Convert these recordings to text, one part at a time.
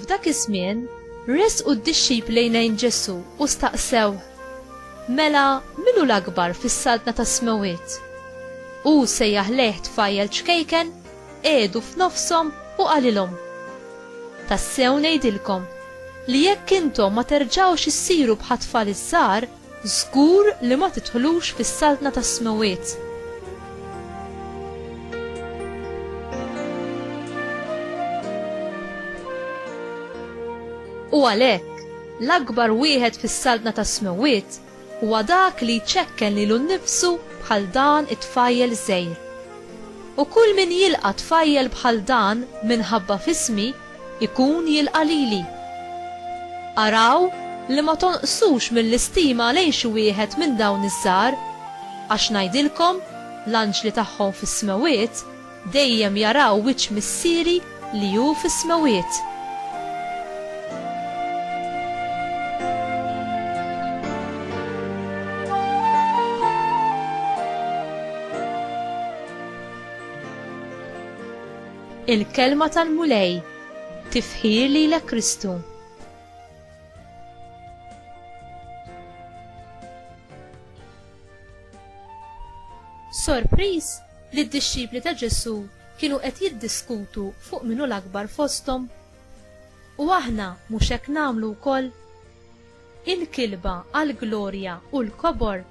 F'dak iż-żmien, resqu d-dixxip lejn Ġesu u staqsew, Mela, min hu l-akbar fis-saltna tas-smewwiet? Hu sejjaħ lejh tfajjel ċkejken qiegħdu f'nofshom u qalilhom, Tassew ngħidilkom li jekk intom ma terġgħux issiru bħat-tfal iż-żgħar, żgur li ma tidħlux fis-Saltna tas-Smewwiet. U għalhekk, l-akbar wieħed fis-Saltna tas-Smewwiet Huwa dak li jċekken lilu nnifsu bħal dan it-tfajjel żgħir. U kull min jilqa' tfajjel bħal dan minħabba f'ismi, ikun jilqa' lili. Araw li ma tonqsux mill-istima lejn xi wieħed minn dawn iż-żgħar, għax ngħidilkom, l-anġli tagħhom fis-smewwiet Dejjem jaraw wiċċ Missieri li hu fis-smewwiet. Il-Kelma tal-Mulej, Tifħir lilek Kristu. Sorpriż li d-dixxipli ta' Ġesù kienu qed jiddiskutu fuq min hu l-akbar fosthom? U aħna mhux hekk nagħmlu wkoll? Il-kilba għall-glorja u l-kobor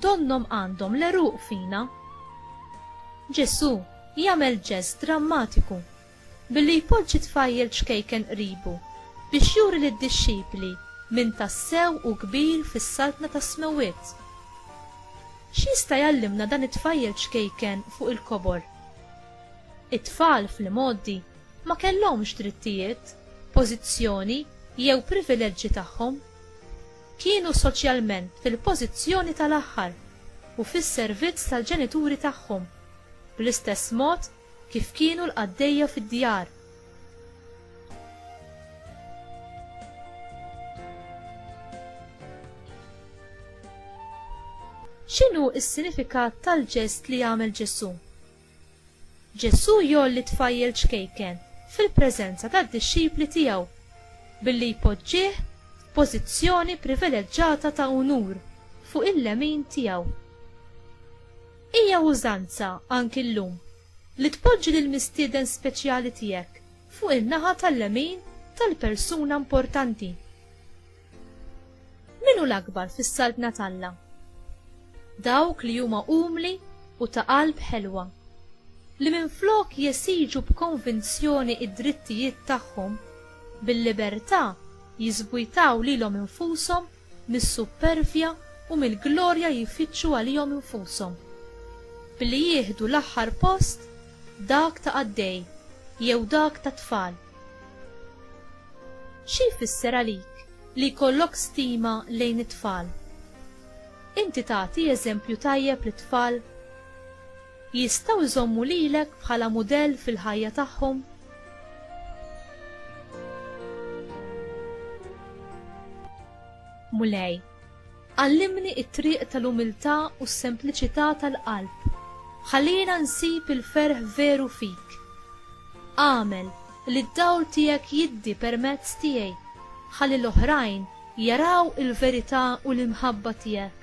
donnhom għandhom l-għeruq fina. Ġesù jagħmel ġest drammatiku Billi jpoġġi tfajjel ċkejken qribu, biex juri lid-dixxipli min tassew hu kbir fis-Saltna tas-Smewwiet. X'jista' jgħallimna dan it-tfajjel ċkejken fuq il-kobor? It-tfal, fl-imgħoddi, ma kellhomx drittijiet, pożizzjoni jew privileġġi tagħhom. Kienu soċjalment fil-pożizzjoni tal-aħħar u fis-servizz tal-ġenituri tagħhom, bl-istess mod Kif kienu l-qaddejja fid-djar. X'inhu s-sinifikat tal-ġest li għamel Ġesù? Ġesù jgħolli tfajjel ċkejken fil-preżenza tad-dixxipli tiegħu billi jpoġġih f'pożizzjoni privileġġata ta' unur fuq il-lemin tiegħu. Hija użanza anki llum li tpoġġi lil mistieden speċjali tiegħek fuq in-naħa tal-lemin tal-persuna importanti. Min hu l-akbar fis-saltna t'Alla? Dawk li huma umli u ta' qalb ħelwa li minflok jesiġu b'konvinzjoni id-drittijiet tagħhom bil-libertà jiżbujtaw lilhom infushom mis-suppervja u mill-glorja jfittxu għalihom infushom, billi jieħdu l-aħħar post, dak ta' qaddej jew dak ta' tfal. Xi jfisser għalik li jkollok stima lejn it-tfal? Inti tagħti eżempju tajjeb lit-tfal? Jistgħu jżommu lilek bħala mudell fil-ħajja tagħhom? Mulej, għallimni t-triq tal-umiltà u s-sempliċità tal-qalb. Ħallina nsib il-ferħ veru fik. Agħmel li d-dawl tiegħek jiddi permezz tiegħi ħalli l-oħrajn jaraw il-verità u l-imħabba tiegħek.